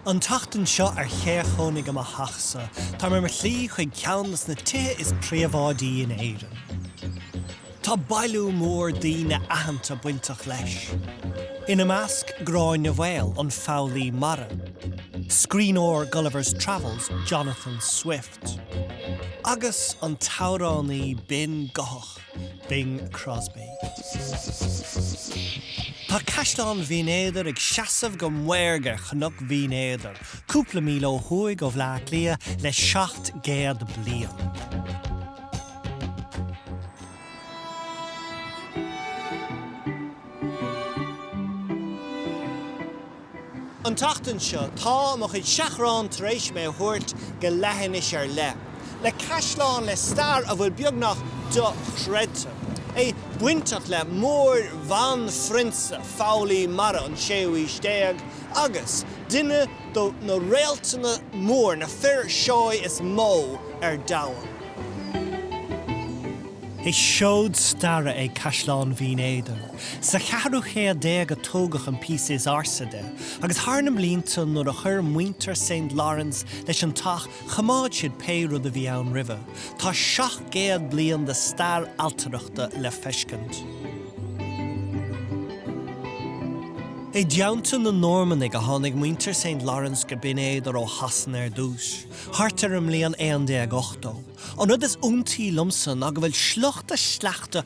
An tseachtain seo ar Cé a Chónaigh i mo Theach-sa, táim ar mo shlí chuig ceann de na tithe is príobháidí in Éirinn. Tá bailiú mór daoine aitheanta bainteach leis, ina measc Gráinne Mhaol, an foghlaí mara, scríbhneoir Gulliver's Travels Jonathan Swift, agus an t-amhránaí binn guthach. Bing Crosby. Tá Caisleán Bhinn Éadair ag seasamh go maorga ar Chnoc Bhinn Éadair, cúpla míle ó thuaidh ó Bhleá Cliath, le seacht gcéad bliain. An tseachtain seo, tá mo chuid seachrán tar éis mé a thabhairt go leithinis ar leith, le caisleán le stair a bhfuil beagnach dochreidte, é bainteach le Mór-Bhanphrionsa foghlaí mara an séú aois déag agus duine do na réaltaí móra, na fir seó is mó ar domhan. Is seod staire é Caisleán Bhinn Éadair. Sa cheathrú céad déag a tógadh an píosa is ársa de, agus thar na blianta nuair a chuir muintir Saint Laurence leis an teach choimeád siad pé rud a bhí ann roimhe. Tá seacht gcéad bliain de stair ailtireachta le feiscint. I dteannta na Normannaigh a tháinig muintir Saint Laurence go Binn Éadair ó Shasana ar dtús, thart ar an mbliain 1180. An rud is iontaí liomsa ná go bhfuil sliocht a sleachta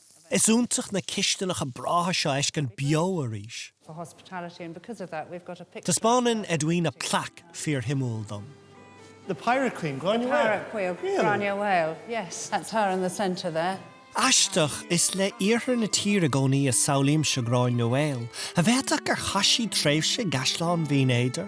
Is iontach na cistineacha breátha seo a fheiscint beo arís. Taispeánann Edwina plaic fíorshuimiúil dom. Aisteach, is le iarthar na tíre i gcónaí a shamhlaímse Gráinne Mhaol, ach b'fhéidir gur chaith sí tréimhse i gCaisleán Bhinn Éadair.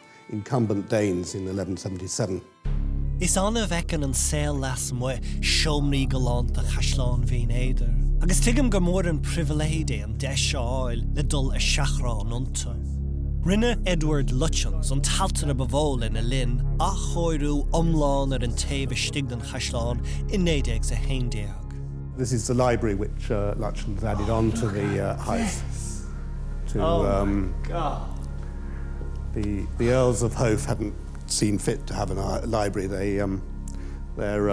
incumbent Danes in 1177. Is annamh a fheiceann an saol lasmuigh seomraí galánta Chaisleán Bhinn Éadair, agus tuigim gur mór an pribhléid é an deis a fháil le dul ar seachrán iontu. Rinne Edward Lutyens, an t-ailtire ba mhó lena linn, athchóiriú iomlán ar an taobh istigh den chaisleán i 1911. This is the library which Lutyens added on to the house. The Earls of Howth hadn't seen fit to have a library they their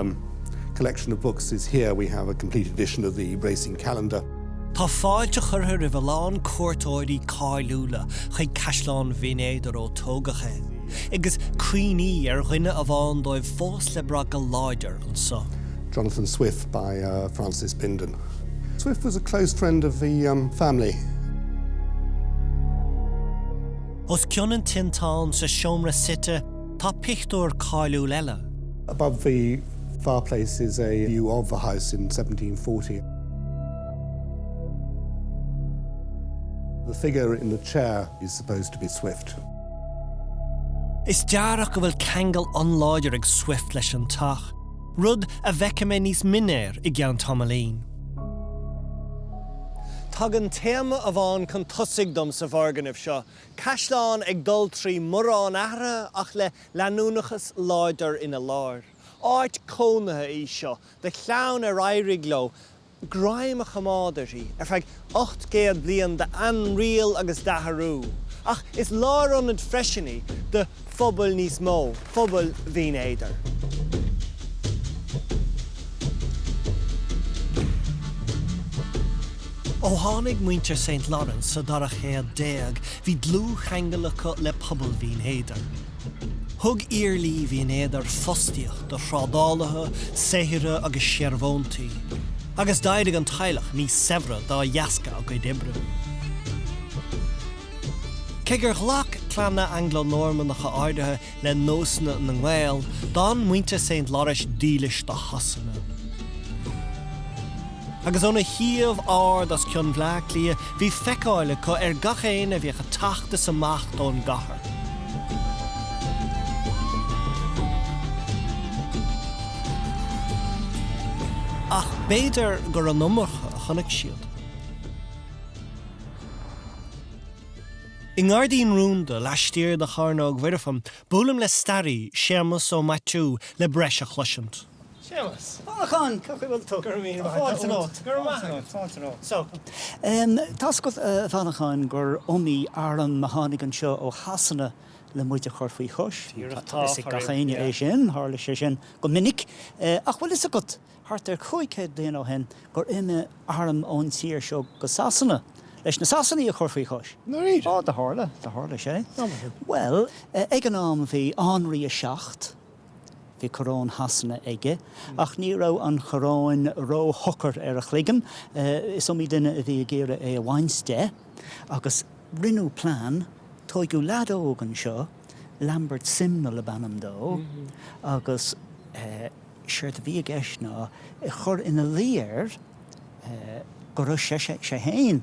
collection of books is here we have a complete edition of the Racing Calendar. Tá fáilte curtha roimh a lán cuairteoirí cáiliúla chuig Caisleán Bhinn Éadair ó tógadh é, agus cuimhní ar dhuine amháin díobh fós le brath go láidir anseo. Jonathan Swift by Francis Bindon. Swift was a close friend of the family. Os cionn an tinteáin sa seomra suite tá pictiúr cáiliúil eile. Above the fireplace is a view of the house in 1740. The figure in the chair is supposed to be Swift. Is dearach go bhfuil ceangal an-láidir ag Swift leis an teach. rud a bhfeicfidh mé níos mine air i gceann tamaillín. Tagann téama amháin chun tosaigh dom sa bhfoirgneamh seo, caisleán ag dul trí mórán athraithe ach le leanúnachas láidir ina lár. Áit cónaithe í seo do chlann ar éirigh leo greim a choimeád uirthi ar feadh ocht gcéad bliain d'ainriail agus d'athrú, ach is lárionad freisin í do phobal níos mó, phobal Bhinn Éadair. Ó tháinig muintir Saint Lawrence sa dara céad déag, bhí dlúthcheangal acu le pobal Bhinn Éadair. Thug Iarlaí Bhinn Éadair fostaíocht do thrádálaithe, saothraithe agus searbhóntaí, agus d'éirigh an teaghlach níos saibhre dá dheasca a gcuid oibre. Cé gur ghlac clanna Angla-Normannacha áirithe le nósanna na nGael, d'fhan muintir Saint Lawrence dílis do Shasana. Agus óna shuíomh ard os cionn Bhleá Cliath bhí feiceáil acu ar gach éinne a bhíodh ag teacht is amach don gcathair. Ach b'fhéidir gur an iomarca a chonaic siad. I ngairdín rúnda laistiar de Chearnóg Mhuirfean buailim le staraí, Séamas Ó Maitiú, le breis a chloisint. Séamas. A Mhancháin, cén chaoi a bhfuil tú? Go raibh míle maith agat. Fáilte romhat. Go raibh maith agat. Fáilte romhat. So, tá's agat, a Mhancháin, gur iomaí arm a tháinig anseo ó Shasana le muid a chur faoi chois. Díreach. Tá fhios ag gach éinne é sin, tharla sé sin go minic. Ach bhfuil fhios agat, thart ar chúig chéad bliain ó shin, gur imigh arm ón tír seo go Sasana leis na Sasanaigh a chur faoi chois? Dáiríre? Ó, do tharla, do tharla sé. Go maith. Bhuel, ag an am bhí Anraí a Seacht, Bhí coróin Shasana aige, ach ní raibh an choróin ró-shocair ar a chloigeann. Is iomaí duine a bhí ag iarraidh é a bhaint de, agus rinneadh plean. Tóigeadh leaid óg anseo, Lambert Simnel ab ainm dó, agus séard a bhí i gceist ná chur ina luí air go raibh sé fhéin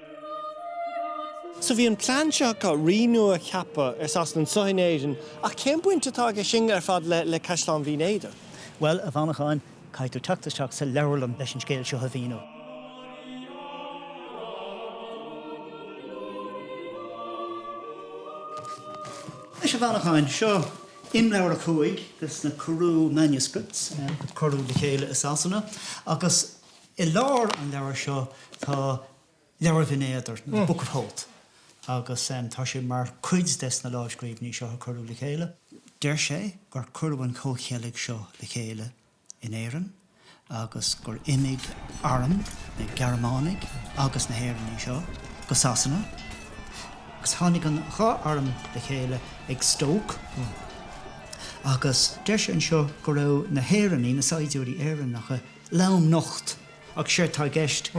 So, bhí an plean seo acu, rí nua a cheapadh ar Sasana anseo in Éirinn, ach cén baint atá aige sin ar fad le Caisleán Bhinn Éadair? Bhuel, a Mhancháin, caithfidh tú teacht isteach sa leabharlann leis an scéal seo a mhíniú. Anois, a Mhancháin, seo imleabhar a cúig de na Carew Manuscripts, a cuireadh le chéile i Sasana, agus I lár an leabhair seo tá Leabhar Bhinn Éadair, nó the Book of Howth, agus tá sé mar chuid des na lámhscríbhinní seo a cuireadh le chéile. Deir sé gur cuireadh an comhcheilg seo le chéile in Éirinn agus gur imigh arm na Gearmánaigh agus na hÉireannaigh seo go Sasana agus tháinig an dhá arm le chéile ag Stoke agus deir sé anseo go raibh na hÉireannaigh, na saighdiúirí Éireannacha, lomnocht, ach séard tá i gceist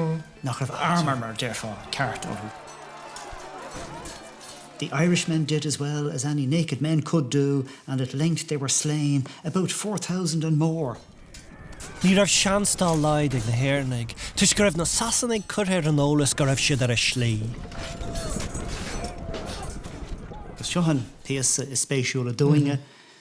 nach raibh armúr mar a déarfá, ceart orthu. The Irishmen did as well as any naked men could do and at length they were slain, about four thousand and more. Ní raibh seans dá laghad ag na hÉireannaigh toisc go raibh na Sasanaigh curtha ar an eolas go raibh siad ar a slí. Seo an píosa is spéisiúla dúinne.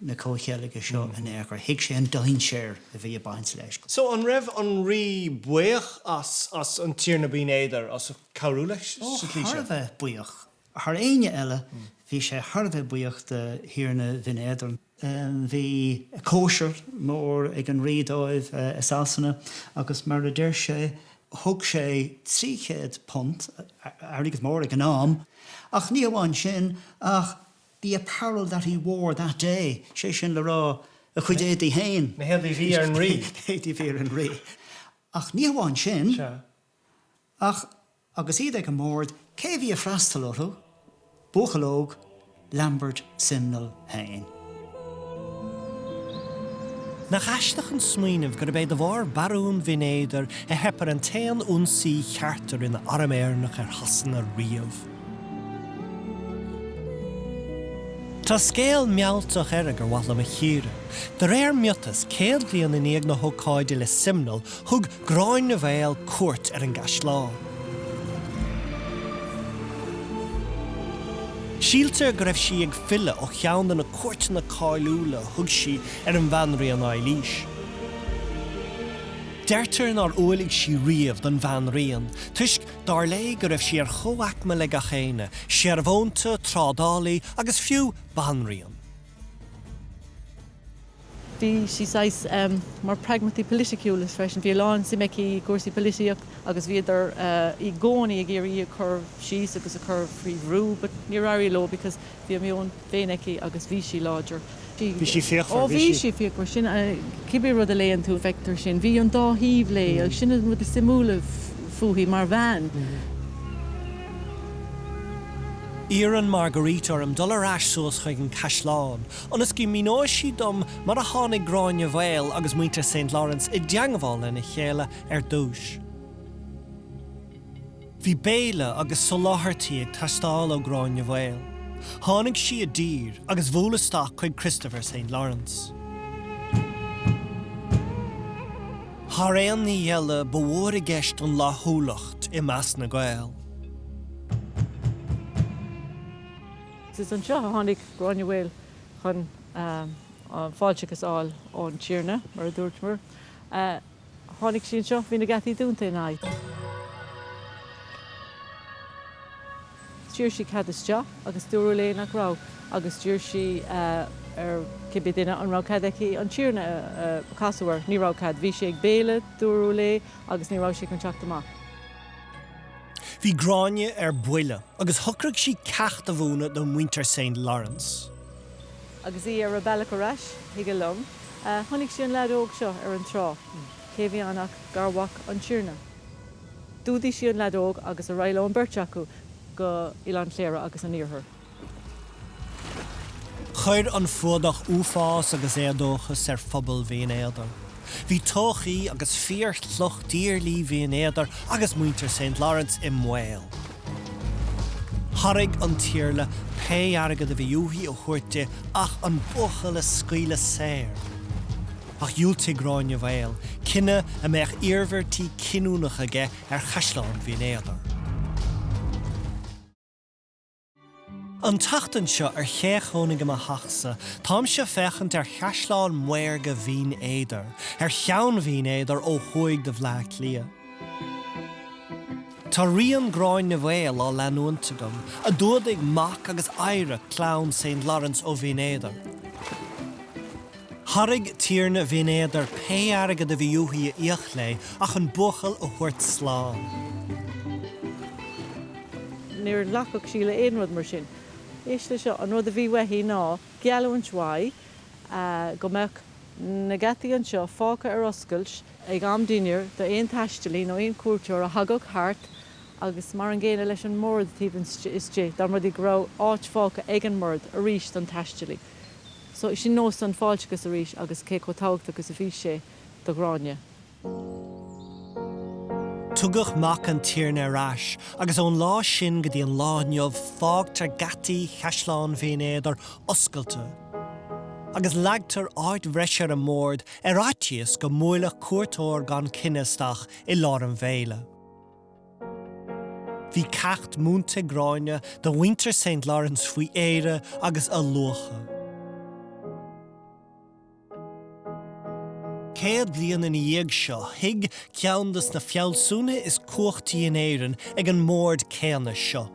na comhcheilge seo in aon chor. Thuig sé an dainséar a bhí ag baint leis. So, an raibh an rí buíoch as, as an Tiarna Binn Éadair as cabhrú leis sa tslí seo? Ó, thar a bheith buíoch. Thar éinne eile, bhí sé thar a bheith buíoch de Thiarna Bhinn Éadair. Bhí cóisir mhór ag an rí dóibh i Sasana agus mar a deir sé, thug sé £300, airgead mór ag an am, ach ní hamháin sin ach the apparel that he wore that day, sé sin le rá, a chuid éadaigh féin. na héadaí a bhí ar an rí. na héadaí a bhí ar an rí. Ach ní hamháin sin, Sea. ach agus iad ag an mbord, cé a bhí ag freastal orthu? Buachaill óg, Lambert Simnel féin. Nach aisteach an smaoineamh gurb é de bharr Barún Bhinn Éadair a theip ar an t-aon ionsaí ceart a rinne arm Éireannach ar Shasana riamh? Tá scéal mealltach eile gur mhaith liom a chíoradh. De réir miotas, céad bliain i ndiaidh na hócáide le Simnel, thug Gráinne Mhaol cuairt ar an gcaisleán. Síltear go raibh sí ag filleadh ó cheann de na cuairteanna cáiliúla a thug sí ar an bhanríon Eilís. Deirtear nár umhlaigh sí riamh don bhanríon toisc dar léi go raibh sí ar chomhaicme le gach éinne, searbhónta, trádálaí agus fiú banríon. Bhí sí saghas mar pragmataí politiciúil freisin. Bhí a lán suim aici i gcúrsaí polaitíocht agus bhíodar i gcónaí ag iarraidh í a chur síos agus a chur faoi bhrú but níor éirigh leo because Bhí a meon féin aici agus bhí sí láidir. Bhí sí fíochmhar. Ó bhí sí fíochmhar. Sin, cibé rud a léann tú, feictear sin. Bhí an dá thaobh léi agus sin an rud is suimiúla fúithi mar bhean. Iarrann Marguerite orm dul ar ais suas chuig an caisleán ionas go míneoidh sí dom mar a tháinig Gráinne Mhaol agus muintir Saint Lawrence i dteangbháil lena chéile ar dtúis. Bhí béile agus soláthairtí ag teastáil ó Gráinne Mhaol. Tháinig sí i dtír agus bhuail isteach chuig Christopher Saint Lawrence. Thar aon ní eile, ba mhór i gceist an fhlaithiúlacht i measc na nGael. Is anseo a tháinig Gráinne Mhaol chun fáilteachas a fháil ón Tiarna, mar a dúirt mé. Tháinig sí anseo, bhí na geataí dúnta ina aghaidh. D'iarr sí cead isteach agus dúradh léi nach raibh agus d'iarr sí ar cibé duine an raibh cead aici an tiarna a chasadh air. Ní raibh cead. Bhí sé ag béile, dúradh léi, agus ní raibh sé chun teacht amach. Bhí Gráinne ar buile agus shocraigh sí ceacht a mhúineadh do mhuintir St. Lawrence. Agus í ar a bealach ar ais chuig a long, chonaic sí an lead óg seo ar an trá. Cé a bhí ann ach garmhac an Tiarna. D'fhuadaigh sí an lead óg agus ar aghaidh leo an bheirt acu go Oileán Chliara agus an Iarthar. Chuir an fuadach uafás agus éadóchas ar phobal Bhinn Éadair. Bhí todhchaí agus fíorshliocht iarlaí Bhinn Éadair agus mhuintir Saint Lawrence i mbaol. Thairg an t-iarla pé airgead a bhí uaithi a thabhairt di ach an buachaill a scaoileadh saor. Ach dhiúltaigh Gráinne Mhaol, cinneadh a mbeadh iarmhairtí cinniúnacha aige ar chaisleán Bhinn Éadair. An tseachtain seo ar Cé a Chónaigh i mo Theachsa, táimse ag féachaint ar chaisleán maorga Bhinn Éadair, ar cheann Bhinn Éadair ó thuaidh de Bhleá Cliath. Tá rian Gráinne Mhaol á leanúint agam, a d'fhuadaigh mac agus oidhre chlann Saint Lawrence ó Bhinn Éadair. Thairg tiarna Bhinn Éadair pé airgead a bhí uaithi a íoc léi ach an buachaill a thabhairt slán. Níor ghlacfadh sí le aon rud mar sin. 'Sé seo, an rud a bhí uaithi ná geallúint uaidh go mbeadh na geataí anseo fágtha ar oscailt, ag am dinnéir, do aon taistealaí nó aon chuairteoir a thagadh thart, agus mar an gcéanna leis an mbord taobh istigh, go mba rud é go raibh áit fágtha ag an mbord arís don taistealaí. So, sin nós an fáilteachais arís agus cé chomh tábhachtach is a bhí sé do Ghráinne. Tugadh mac an Tiarna ar ais agus ón lá sin go dtí an lá inniu fágtar geataí Chaisleán Bhinn Éadair oscailte agus leagtar áit bhreise ar an mbord ar fhaitíos go mbuailfeadh cuairteoir gan coinne isteach i lár an bhéile. Bhí ceacht múinte ag Gráinne do mhuintir Saint Lawrence faoi Éire agus a luacha. Céad bliain ina dhiaidh seo, shuigh ceann de na fealsúna is cumhachtaí in Éirinn ag an mbord céanna seo,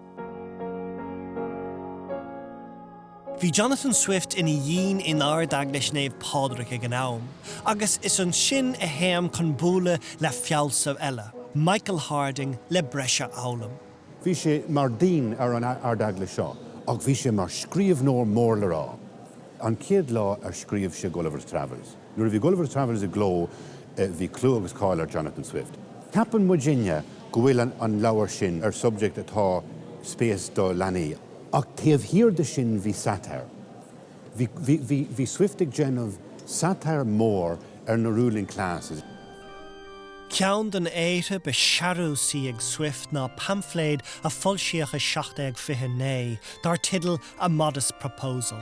Bhí Jonathan Swift ina dhéan in Ard-Eaglais Naomh Pádraig ag an am, agus is ansin a théim chun bualadh le fealsamh eile, Michael Harding, le breis a fhoghlaim. Bhí sé mar déan ar an Ard-Eaglais seo, ach bhí sé mar scríobhnóir mór le rá, an chéad lá ar scríobh sé Gulliver's Travels. Nuair a bhí Gulliver's Travels i gcló bhí clú agus cáil ar Jonathan Swift. Ceapann muidinne go bhfuil an leabhar sin ar subject atá spéis do leanaí ach taobh thiar de sin bhí satire. Bhí, bhí, bhí, bhí Swift ag déanamh satire mór ar na ruling classes. Ceann de na haortha ba shearúsaí ag Swift ná paimfléad a foilsíodh i 1729 dar teideal A Modest Proposal.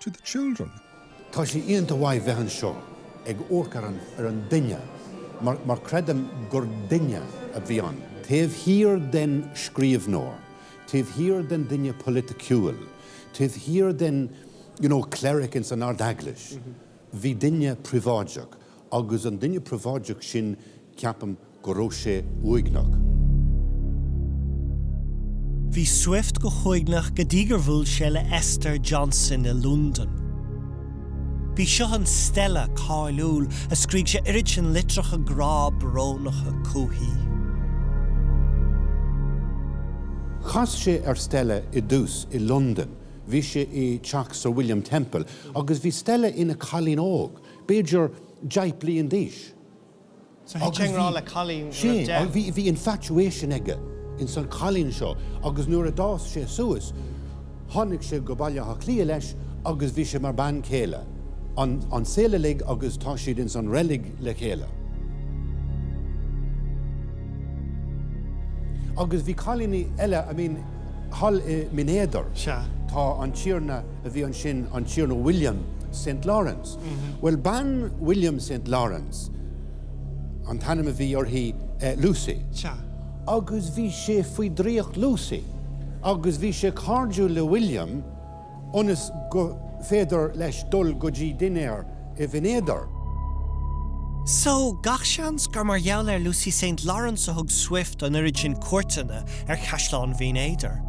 to the children. Tá sé iontach maith bheith anseo ag amharc ar an, ar an duine mar, mar creidim gur duine a bhí ann. Taobh thiar den scríbhneoir, taobh thiar den duine polaiticiúil, taobh thiar den, you know, cleric ins an Ardeaglais, bhí duine príobháideach. Agus an duine príobháideach sin, ceapaim go raibh sé uaigneach. Bhí Swift go huaigneach go dtí gur bhuail sé le Esther Johnson i Londain. B'í seo an Stella cáiliúil a scríobh sé oiread sin litreacha grá brónacha chuici. Chas sé ar Stella i dtús i Londain, bhí sé i dteach Sir William Temple, agus bhí Stella ina cailín óg. b'fhéidir deich bliain d'aois. So thit sé i ngrá le cailín nuair a bhí deich. Sea, bhí infatuation aige ins an chailín seo agus nuair a d'fhás sí suas tháinig sí go Baile Átha Cliath leis agus bhí sí mar bean chéile an saol uilig agus tá siad ins an reilig le chéile. Agus bhí cailíní eile, I mean, thall i mBinn Éadair, tá an tiarna a bhí ansin, an Tiarna William Saint Lawrence. Bhuel, bean William Saint Lawrence, an t-ainm a bhí uirthi Lucy. Agus bhí sé faoi draíocht Lucy agus bhí sé cairdiúil le William ionas go féidir leis dul go dtí dinnéar i mBinn Éadair. So, gach seans gur mar gheall ar Lucy Saint Lawrence a thug Swift an oiread sin cuairteanna ar chaisleán Bhinn Éadair.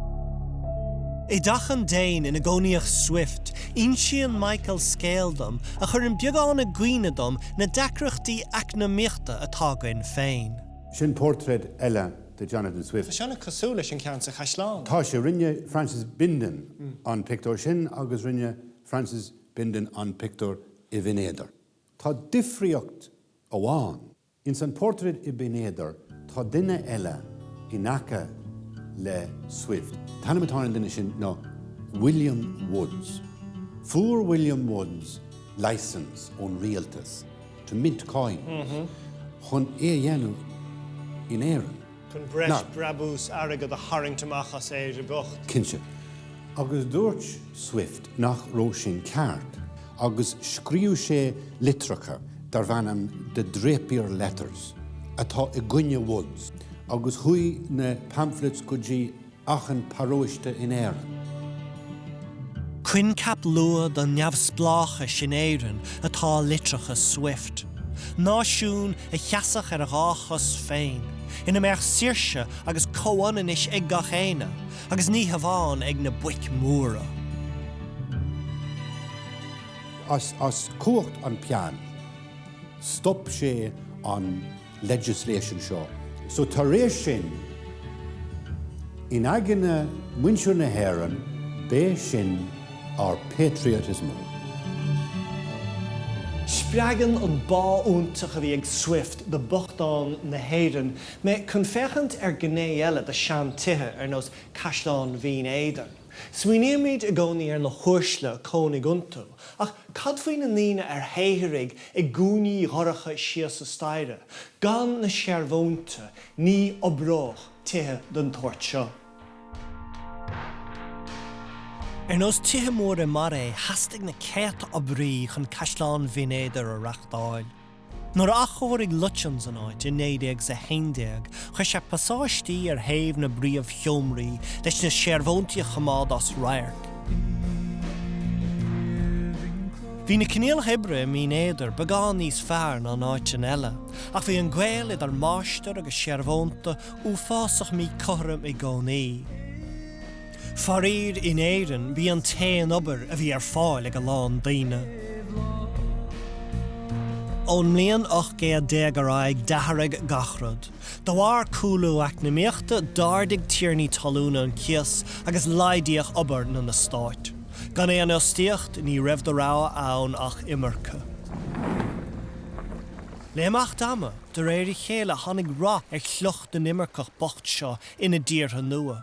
I dteach an Déin ina gcónaíodh Swift, Insíonn Michael scéal dom a chuireann beagán i gcuimhne dom na deacrachtaí eacnamaíochta atá againn féin. Sin portráid eile de Jonathan Swift. Tá sé an-chosúil leis an gceann sa chaisleán. Tá sé. Rinne Francis Bindon an pictiúr sin agus rinne Francis Bindon an pictiúr i mBinn Éadair. Tá difríocht amháin. Ins an phortráid i mBinn Éadair tá duine eile in aice le Swift. An t-ainm atá ar an duine sin ná William Woods. Fuair William Woods licence ón rialtas to mint coin chun é a dhéanamh in Éirinn. chun breis brabús airgid a tharraingt amach as Éire bocht. Cinnte. Agus dúirt Swift nach raibh sin ceart, agus scríobh sé litreacha darb ainm The Drapier Letters, atá i gcoinne Woods, agus chuaigh na pamphlets go dtí achan paróiste in Éirinn. Coincheap luath don neamhspleáchas in Éirinn atá i litreacha Swift, náisiún a sheasfadh ar a dhá chos féin, ina mbeadh saoirse agus comhionannas ag gach aoinne, agus ní hamháin ag na boic mhóra. As cumhacht an peann, stop sé an. legislation seo so tar éis sin in aigne muintir na hÉireann b'é sin ár patriotism. Spreagann an bá iontach a bhí ag Swift do bhochtáin na hÉireann mé chun féachaint ar gné eile de sean-tithe ar nós Caisleán Bhinn Éadair. Smaoinímid i gcónaí ar na huaisle a cónaigh iontu, ach cad faoi na ndaoine a shaothraigh i gcúinní dhorcha síos an staighre, gan na searbhóntaí, ní oibreodh tithe den tsórt seo. Ar nós tithe móra mar é, theastaigh na céadta oibrí chun Caisleán Bhinn Éadair a reachtáil. Nuair a athchóirigh Lutyens an áit i 1911, chuir sé pasáistí ar thaobh na bpríomhsheomraí leis na searbhóntaí a choimeád as radharc. Bhí na coinníollacha oibre i mBinn Éadair beagán níos fearr ná in áiteanna eile, ach bhí an gaol idir máistir agus searbhónta uafásach míchothrom i gcónaí. Faraoir, in Éirinn, b'í an t-aon obair a bhí ar fáil ag a lán daoine. Ón mbliain ocht gcéad déag ar aghaidh, d'athraigh gach rud. De bharr cúlú eacnamaíochta, d'ardaigh tiarnaí talúna an cíos agus laghdaíodh obair na n-eastát. Gan aon fhostaíocht, ní raibh de rogha ann ach imirce. Le himeacht ama, de réir a chéile, tháinig rath ar shliocht na n-imirceach bocht seo ina dtíortha nua.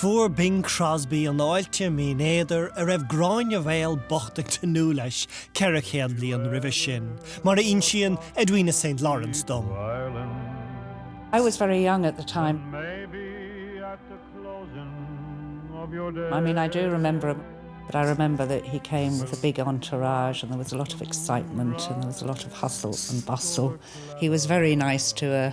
Fuair Bing Crosby an fháilte Mín Éadair a raibh Gráinne Mhaol bocht ag tnúth leis ceithre chéad bliain roimhe sin, mar a insíonn Edwina Saint Lawrence dom. I was very young at the time, I mean I do remember him but I remember that he came with a big entourage and there was a lot of excitement and there was a lot of hustle and bustle. He was very nice to a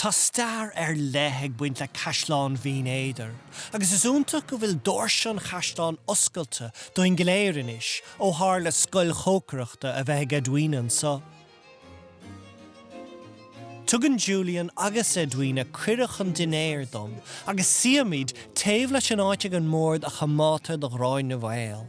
Tá stair ar leith ag baint le Caisleán Bhinn Éadair agus is iontach go bhfuil doirse an chaisleáin oscailte dúinn go léir anois ó tharla scoil chócaireachta a bheith ag Edwina anseo. Tugann Julian agus Edwina cuireadh chun dinnéir dom agus suímid taobh leis an áit ag an mbord a choimeádtar do Ghráinne Mhaol.